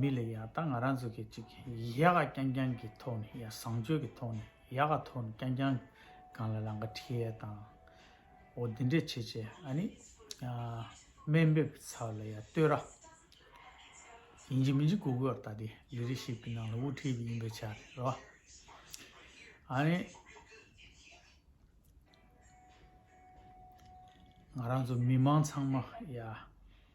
མི་ལ་ཡག་ད་ང་རང་ཚོ་གི་ཅིག་ཡག་ག་རྐྱང་རྐྱང་གི་ཐོག་ནས་ཡག་བཟང་སྤྱོད་གི་ཐོག་ནས་ཡག་ག་ཐོག་ནས་རྐྱང་རྐྱང་གང་ལ་ལང་ག་ཁྲི་ཡའི་དང་འོ་འདི་འདྲས་བྱེད་བྱེད་ཨ་ནི་སྨན་འབེབ་ཀི་ཚབ་ལ་ཡ་ལྟོས་ར་ཡིན་གྱི་མིན་གྱི་གུ་གུ་ཡོར་ད་དེ་ལི་རི་ཞིབ་ཀི་ནང་ལ་དབུ་ཁྲིད་པ་ཡིན་པའི་ཆ་རེད་རེད་བ་ཨ་ནི་ང་རང་ཚོ་མི་མང་ཚང་མ་ཡ།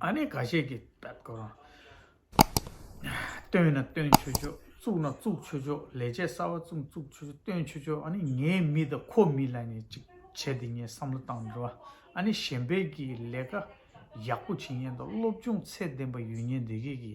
ཨ་ནེ་ག་ཤེད་ཀྱི་བལྟ་གོ། སྟོན་ན་སྟོན་ཆོས་ཆོས་བཙུགས་ན་བཙུགས་ཆོས་ཆོས་ལས་བྱེད་གསར་བ་བཙུགས་བཙུགས་ཆོས་ཆོས་སྟོན་ཆོས་ཆོས་ཨ་ནེ་ངའི་མི་དང་ཁོ་མི་ལ་ནི་ཅིག་བྱས་ཏེ་ངས་བསམ་བློ་བཏང་འགྲོ། ཨ་ནེ་གཞན་ཕན་གྱི་ལས་ཀ་ཡག་པོ་བྱེད་ཉེན་དང་སློབ་སྦྱོང་ཚད་ལྡན་པ་ཡོད་ཉེན་དེ་གས་ཀྱི་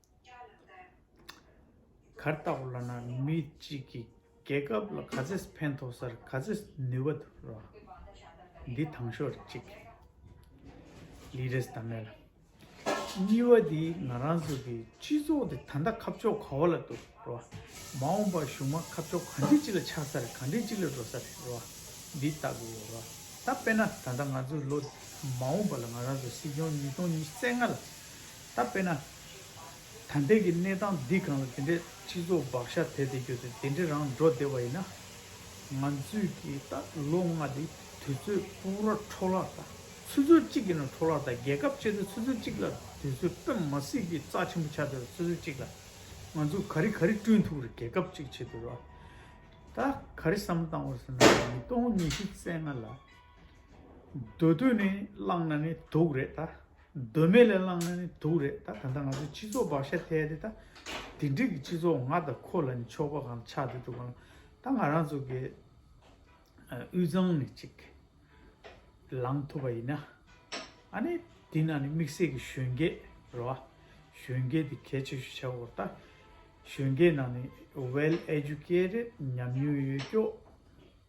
གར་ལྟ་བུ་ལ་ན་མི་གཅིག་གིས་རྒྱལ་སྐབས་ལ་ག་ཚད་ཕན་ཐོག་སར་ག་ཚད་ནུས་པ་འདུག་རོ། འདི་དང་ཞོར་གཅིག། ལི་རེས་ད་མེ་ལ། སྙི་བ་འདི་ང་རང་ཚོ་གི་སྤྱི་ཚོགས་འདི་ད་ལྟ་ཁ་ཕྱོགས་ག་བ་ལ་འདུག་རོ། མ་འོངས་པར་གཞུག་མ་ཁ་ཕྱོགས་ག་འདྲི་ཅི་ལ་ཆགས་སར་ག་འདྲི་ཅི་ལ་འགྲོ་སར་རེད་རོ། འདི་ལྟ་བུ་ཡོད་རོ། ད་དཔེ་ན་ད་ལྟ་ང་ཚོ་ལོ་མ་འོངས་པ་ལ་ང་རང་ཚོ་སྲིད་སྐྱོང་ཉིས་སྟོང་ཉི་བརྩེགས་ལྔ་ལ། ད་དཔེར་ན། ད་ལྟའི་གི་གནས་སྟངས་འདི་གང་ལ་དེ་འདྲའི་སྤྱི་ཚོགས་བག་ཤ་དེ་དེ་གྱོད་ཚོད་དེ་འདྲའི་རང་འགྲོ་བདེ་བ་ཡིན་ན། ང་ཚོས་གི་ད་ལོ་ལྔ་དེ་དུས་ཚོད་པུ་ར་འཕྲོ་བརླག་དང་ཆུ་ཚོད་གཅིག་གི་ནང་འཕྲོ་བརླག་དང་རྒྱལ་ཁབ་བཅས་ཚོད་ཆུ་ཚོད་གཅིག་ལ་དུས་ཚོད་སྤེམ་མ་སྲིད་གི་རྩ་ཆེན་པོ་ཆགས་དུས་ར་ཆུ་ཚོད་གཅིག་ལ་ང་ཚོ་ག་རི་ག་རི་བསྐྲུན་ཐུབ་ར་རྒྱལ་ཁབ་ཅིག་བྱེད་དུས་ར་ད་ག་རི་བསམ་བཏང་བ་ཟེར་ན་ཉིས་སྟོང་ཉི་ཤུ་རྩེ་ལྔ་ལ། སྡོད་དུས་ནི་བླངས་ན་ནི་དུག་རེད་ད། གདོད་མའི་ལས་བླངས་ན་ནི་དུག་རེད་ད་ད་ང་ཚོའི་སྤྱི་ཚོགས་བག་ཤ་ཐལ་ཏེ་ད་དེ་འགྲིག་གི་སྤྱི་ཚོགས་ང་དང་ཁོ་ལ་ནི་ཕྱོགས་པ་གང་ཆགས་ཏེ་འདུག་གནང་ད་ང་རང་ཚོ་གི་དབུས་གཙང་ནས་ཅིག་ལངས་ཐུབ་པ་ཡིན་ན་ཨ་ནི་དེ་ན་ནི་དམིགས་བསལ་གྱི་གཞོན་སྐྱེས་རེད་བ་གཞོན་སྐྱེས་དེ་གལ་ཆེ་ཤོས་ཆགས་འོར་ད་གཞོན་སྐྱེས་ནང་ནས well educated ཉམས་མྱོང་ཡོད་སྐྱོ།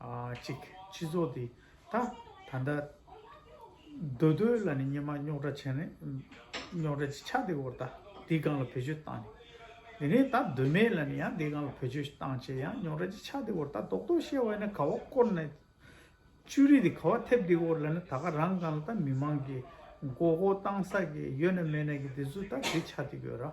གཅིག། སྤྱི་ཚོགས་འདི་ད་ད་ལྟ། འདོད་རྡོའི་ལ་ནི་སྙེ་མ་རྙོག་དྲ་བྱས་ནས། རྙོག་དྲ་ཆ་དེ་བོར་ད་དེའི་སྒང་ལ་བེད་སྤྱོད་བཏང་ནས། དེ་ནས་ད་འདོད་མའི་ལ་ནི་ཡང་དེའི་སྒང་ལ་བེད་སྤྱོད་བཏང་བྱས་ཡང་རྙོག་དྲ་ཆ་དེ་བོར་ད་རྡོག་རྡོག་བཤལ་བ་ཡིན་ན་ག་བ་བསྐོར་ནས། ཅུ་རིས་དེ་ག་བ་ཐེབས་དེའི་བོར་ལ་ནི་ད་ག་རང་སྒང་ལ་ད་མི་མང་གི། མགོ་སྐོར་བཏང་ས་གི་ཡོད་ན་མེད་ན་གི་དེ་ཚོ་ད་དེ་ཆ་དེ་དགོས་ར།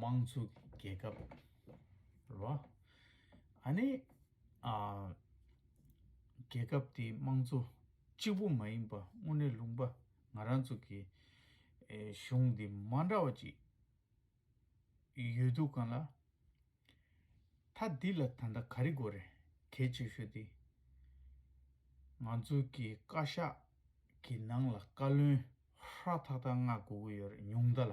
དམངས་གཙོ་གི་རྒྱལ་ཁབ་རེད། ཨ་ནི། རྒྱལ་ཁབ་དེའི་དམངས་གཙོ་གཅིག་པུ་མ་ཡིན་པ་དངོས་གནས་ལུང་པ་ང་རང་ཚོ་གི་གཞུང་འདི་མ་འདྲ་བ་ཅིག་ཡོད་འདུག་ག་ལ། མཐའ་འདི་ལ་ད་ལྟ་ག་རེ་དགོས་རེད་གལ་ཆེ་ཤོས་དེ། ང་ཚོ་གི་བཀའ་ཤག་གི་ནང་ལ་བཀའ་བློན་ཧྲ་ཐག་ཐག་མངགས་དགོས་ཀྱི་ཡོད་རེད་ཉུང་མཐའ་ལ།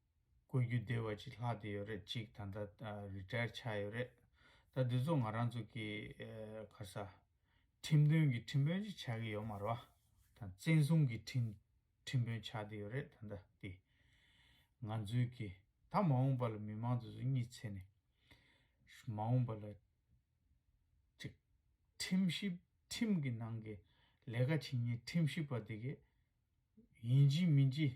བསྐོས་རྒྱུ་དེ་བ་ཅིག་ལྷག་དེ་ཡོད་རེད་གཅིག་ད་ལྟ Retire ཆགས་ཡོད་རེད། ད་དེ་ཚོ་ང་རང་ཚོ་གི་ཁ་ས། ཁྲིམས་དོན་གྱི་ཁྲིམས་དཔོན་ཅིག་ཆགས་ཀྱི་ཡོད་མ་རོ། ད་བཙན་བཟུང་གི་ཁྲིམས་དཔོན་ཆགས་དེ་ཡོད་རེད་ད་ལྟ་དེ། ང་ཚོའི་གི་ད་མ་འོངས་པ་ལ་མི་མང་དེ་ཚོ་གཉིད་ཚེ་ནས། མ་འོངས་པ་ལ། ཅིག་ཁྲིམས་ཞིབ་ཁྲིམས་གི་ནང་གི་ལས་ཀ་བྱེད་ཉིན་ཁྲིམས་ཞིབ་པ་དེ་གི། ཡིན་གྱི་མིན་གྱི།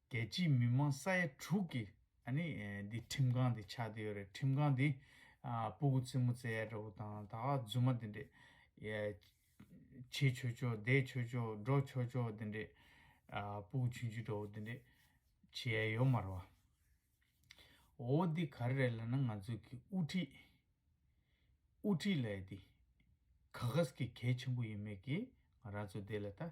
རྒྱལ་སྤྱིའི་མི་མང་ས་ཡ་དྲུག་གི་འདི་ཁྲིམས་ཁང་འདི་ཆགས་འདི་ཡོད་རེད་ཁྲིམས་ཁང་འདི་སྤུ་གུ་རྩེ་མོ་རྩེ་ཡ་འདྲ་བོ་དང་ད་རྫུན་མ་འདི་འདྲས། བྱེད་ཆོས་ཆོས་བསྡད་ཆོས་ཆོས་འགྲོ་ཆོས་ཆོས་འདི་འདྲས། སྤུ་གུ་ཆུན་ཆུན་འདྲ་བོ་འདི་འདྲས། བྱེད་ཡ་ཡོད་མ་རེད་བ། འོ་འདི་ག་རེ་རེད་ལ་ན་ང་ཚོའི་གི་དབུ་ཁྲིད། དབུ་ཁྲིད་ལ་འདི་ག་ག་ཟ་གི་གལ་ཆེན་པོ་ཡིན་མེད་གི་ང་རང་ཚོ་འདི་ལ་ད།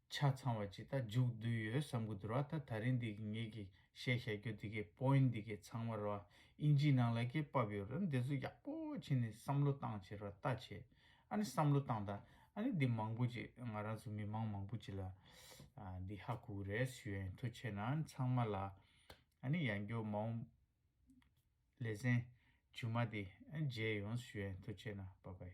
ཆ་ཚང་བ་ཅིག་ད་འཇུག་བསྡུས་ཡོད་བསམ་གི་འདུར་བ་ད་ད་རིང་འདི་གི་ངེད་ཀྱི་བཤད་བཤད་རྒྱོ་འདི་གའི point འདི་གའི་ཚང་མར་བ་ཨིན་ཇིའི་ནང་ལ་ཀྱེ་བབ་ཡོད་རེད་འདི་ཚོ་ཡག་པོ་ཕྱིན་ནས་བསམ་བློ་བཏང་བྱས་ར་བལྟ་བྱས་ཨ་ནི་བསམ་བློ་བཏང་ད་ཨ་ནི་འདི་མང་པོ་ཅིག་ང་རང་ཚོ་མི་མང་མང་པོ་ཅིག་ལ་འདི་ཧ་གོ་གི་རེད་སུས་ཨ་ཡིན་ཐུ་བྱས་ན་ཨ་ནི་ཚང་མ་ལ་ཨ་ནི་ཡང་འགྱོ་མ་འོང་ལེ་ཚན་ཇུ་མ་འདི་ཨ་ནི་བརྗེད་ཡོང་སུས་ཨ་ཡིན་ཐུ་བྱས་ན་བ་བའི།